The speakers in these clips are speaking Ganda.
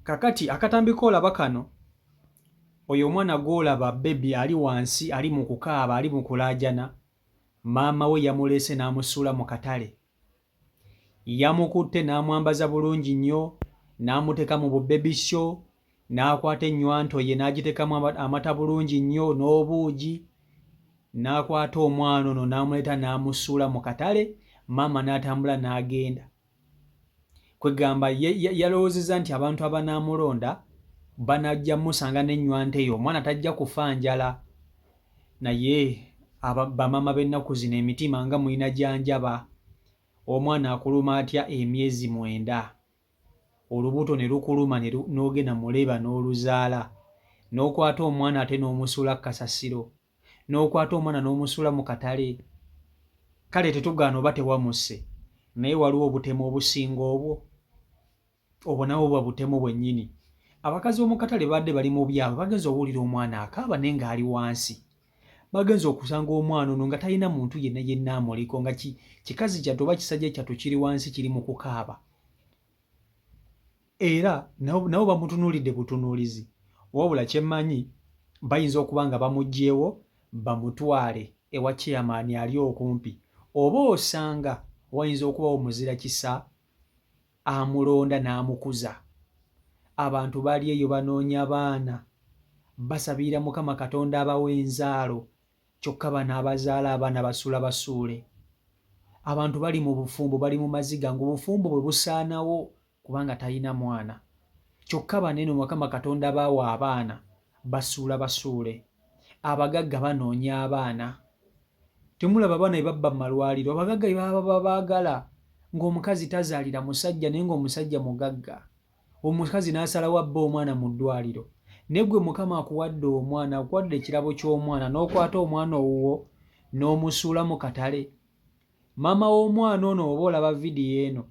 kakati akatambi koolaba kano oyo omwana gwolaba bebi ali wansi ali mu kukaaba ali mu kulaajana maama we yamuleese n'amusuula mu katale yamukutte n'amwambaza bulungi nnyo n'amuteeka mu bubebi sho n'akwata ennywanto ye n'agiteekamu amata bulungi nnyo n'obuugi n'akwata omwana ono n'amuleeta n'amusuula mu katale maama n'atambula n'agenda Kwegamba yalowoozezza nti abantu abanaamulonda banajja musanga n'ennywanto eyo omwana tajja kufa njala. Naye bamaama b'ennaku zino emitima nga mulina gya njaba! Omwana akuluma atya emyezi mwenda, olubuto ne lukuluma n'ogenda mu leeba n'oluzaala, n'okwata omwana ate n'omusuula ku kasasiro. n'okwata omwana n'omusuula mu katale kale tetugaana oba tewamusse naye waliwo obutemu obusinga obwo obwo nabwo buba butemu bwennyini abakazi b'omu katale baadde bali mu byabwe bagenza owulira omwana akaaba naye ng'ali wansi bagenza okusanga omwana ono nga talina muntu yenna yenna amuliko nga kikazi kyattu oba kisajja kyattu kiri wansi kiri mu kukaaba era nabo bamutunuulidde butunuulizi wabula kye mmanyi bayinza okuba nga bamuggyewo bamutwale ewa chairman ali okumpi oba osanga wayinza okubawo muzira kisa amulonda n'amukuza abantu bali eyo banoonya baana basabirira mukama katonda abawa enzaalo kyokka bano abazaala abaana basuula basuule abantu bali mu bufumbo bali mu maziga ng'obufumbo bwe busaanawo kubanga talina mwana kyokka baneno mukama katonda baawa abaana basuula basuule abagagga banoonya abaana temulaba abaana bebabba mu malwaliro abagagga bebababa baagala ng'omukazi tazaalira musajja naye ng'omusajja mugagga omukazi n'asalawo abba omwana mu ddwaliro naye gwe mukama akuwadde omwana akuwadde ekirabo ky'omwana n'okwata omwana owuwo n'omusuula mu katale maama w'omwana ono oba olaba vidiyo eno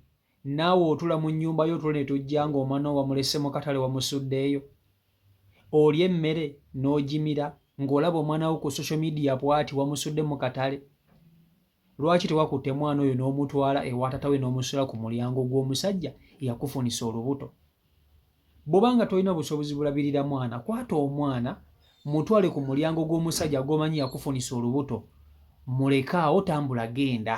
naawe otula mu nnyumba yo otulo ne tujja ng'omwana wo wamulese mu katale wamusuddeeyo olya emmere n'ogimira ng'olaba omwana wo ku social media bwati wamusudde mu katale lwaki tewakutte mwana oyo n'omutwala ewatatawe n'omusula ku mulyango gw'omusajja eyakufunisa olubuto bwoba nga tolina busobozi bulabirira mwana kwata omwana mutwale ku mulyango gw'omusajja gwomanyi yakufunisa olubuto mulekaawo tambula genda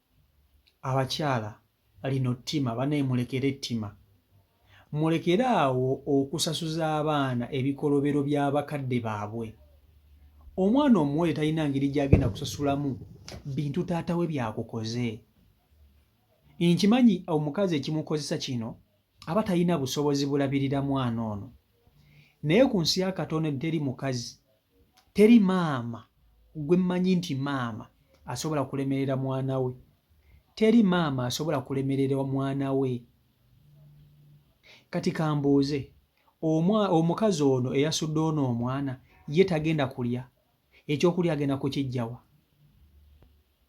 abakyala lino ttima banaye mulekere ettima mulekere awo okusasuza abaana ebikolobero by'abakadde baabwe omwana omuwere talina ngeri gyagenda kusasulamu bintu taata we byakukoze nkimanyi omukazi ekimukozesa kino aba talina busobozi bulabirira mwana ono naye ku nsi ya katonda teri mukazi teri maama gwe mmanyi nti maama asobola kulemerera mwana we teri maama asobola kulemerera mwana we kati kambuuze omwa omukazi ono eyasudde ono omwana ye tagenda kulya ekyokulya agenda kukijjawa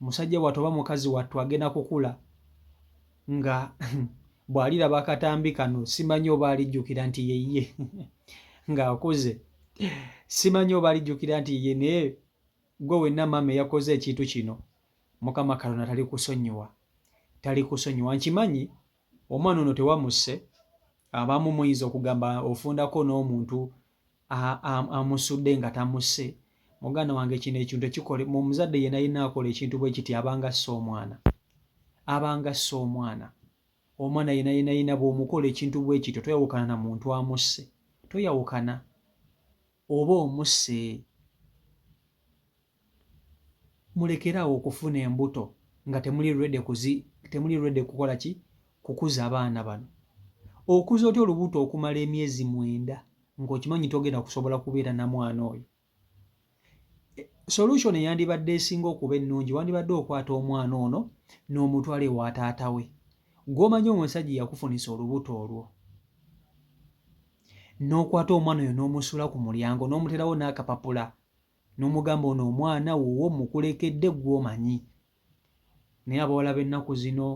musajja wattu oba mukazi wattu agenda kukula nga bw'aliraba akatambi kano simanyi oba alijjukira nti yeye ng'akuze simanyi oba alijjukira nti yeye naye gwe wenna maama eyakoze ekintu kino mukama kalona tali kusonyiwa tali kusonyiwa nkimanyi omwana ono tewamusse abamu muyinza okugamba ofundako n'omuntu amusudde nga tamusse muganda wange kino ekintu ekikole mu omuzadde yena yena akola ekintu bwe kiti abanga assa omwana abanga assa omwana omwana yena yena yena bwomukola ekintu bwe kityo toyawukana na muntu amusse toyawukana oba omusse mulekere awo okufuna embuto nga temuli ready kuzi temuli ready kukola ki kukuza abaana bano okuza otya olubuto okumala emyezi mwenda ng'okimanyi togenda kusobola kubeera na mwana oyo e, solution eyandibadde esinga okuba ennungi wandibadde okwata omwana ono n'omutwala ewa taata we gw'omanyi omusajja yakufunisa olubuto olwo n'okwata omwana oyo n'omusula ku mulyango n'omuteerawo n'akapapula n'omugamba ono omwana wuwo mmukulekedde ggwe omanyi naye abawala b'ennaku zino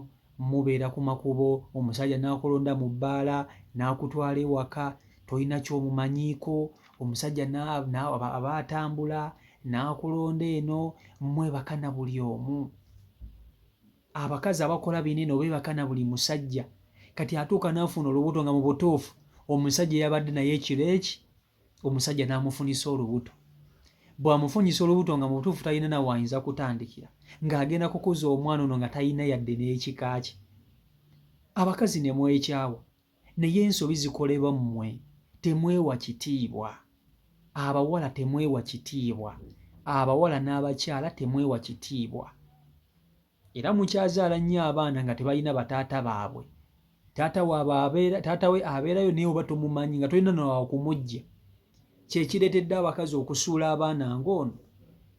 mubeera ku makubo omusajja n'akulonda mu bbaala n'akutwala ewaka tolina ky'omumanyiiko omusajja aba atambula n'akulonda eno mwebaka na buli omu abakazi abakola bino eno beebaka na buli musajja kati atuuka n'afuna olubuto nga mu butuufu omusajja eyabadde naye ekiro eki omusajja n'amufunyisa olubuto bw'amufunyisa olubuto nga mu butuufu talina nawe ayinza kutandikira ng'agenda kukuza omwana ono nga talina yadde n'ekika kye abakazi ne mwekyawa naye ensobi zikolebwa mmwe temwewa kitiibwa abawala temwewa kitiibwa abawala n'abakyala temwewa kitiibwa era mukyazaala nnyo abaana nga tebalina bataata baabwe taata waabwe abeera taata we abeerayo naye oba tomumanyi nga tolina nawawo kumujja kyekireetedde abakazi okusuula abaana ng'ono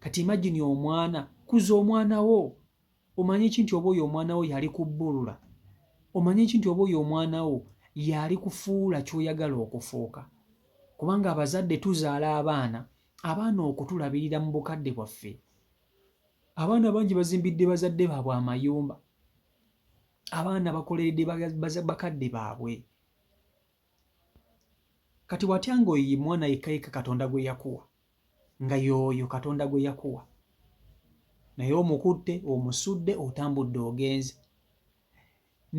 kati imagini omwana kuza omwana wo omanye ki nti oba oyo omwana wo yali kubbulula omanye ki nti oba oyo omwana wo yali kufuula kyoyagala okufuuka kubanga abazadde tuzaala abaana abaana okutulabirira mu bukadde bwaffe abaana bangi bazimbidde bazadde baabwe amayumba abaana bakoleredde bakadde baabwe kati watya nga oyo mwana yekayeka katonda gwe yakuwa nga yooyo katonda gwe yakuwa naye omukutte omusudde otambudde ogenze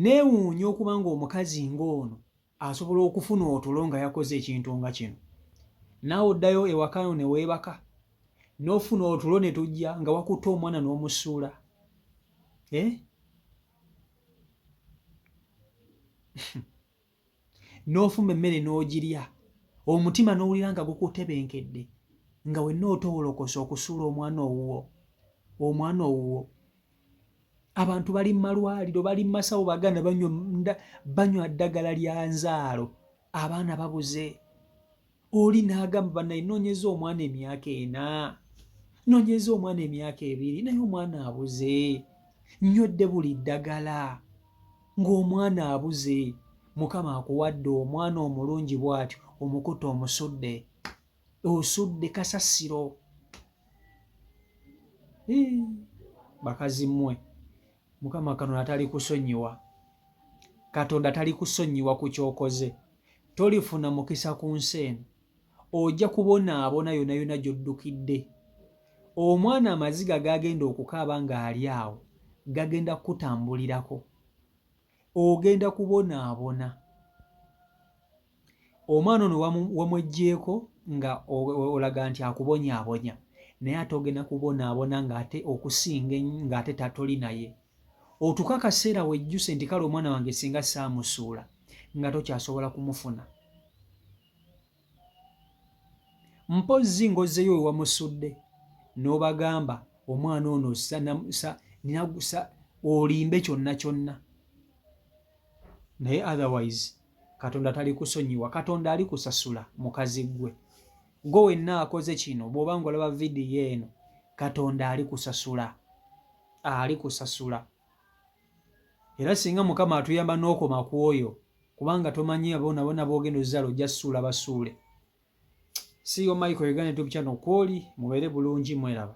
neewuunya okuba nga omukazi ng'ono asobola okufuna otulo nga yakoze ekintu nga kino naawe oddayo ewakano ne weebaka n'ofuna otulo ne tujja nga wakutte omwana n'omusuula eh? n'ofumba emmere n'ogirya omutima n'owulira nga gukutebenkedde nga wenna otowolokosa okusuula omwana owuwo omwana owuwo abantu bali mu malwaliro bali mu masawo baganda banywa ddagala lya nzaalo abaana babuze oli n'agamba banaye noonyeza omwana emyaka ena noonyeza omwana emyaka ebiri naye omwana abuze nywedde buli ddagala ng'omwana abuze mukama akuwadde omwana omulungi bw'atyo omukuta omusudde osudde kasasiro bakazi mmwe mukama katonda tali kusonyiwa katonda tali kusonyiwa ku kyokoze tolifuna mukisa ku nsi eno ojja kubonaabona yona yona gy'oddukidde omwana amaziga gagenda okukaaba ng'ali awo gagenda kukutambulirako ogenda kubonaabona omwana ono wamweggyeko nga olaga nti akubonyaabonya naye ate ogenda kubonaabona ng'ate okusinga ng'ate tatoli naye otuuka akaseera wejjuse nti kale omwana wange singa saamusuula nga tokyasobola kumufuna mpozzi ng'ozzeyo we wamusudde n'obagamba omwana ono ninagusa olimbe kyonna kyonna naye otherwise katonda tali kusonyiwa katonda ali kusasula mukazi ggwe gwe wenna akoze kino bw'oba nga olaba vidiyo eno katonda ali kusasula ali kusasula era singa mukama atuyamba n'okoma ku oyo kubanga tomanyi abona bona bogenda ozala ojja suula basuule siyo michael uganda tube channel kwoli mubeere bulungi mweraba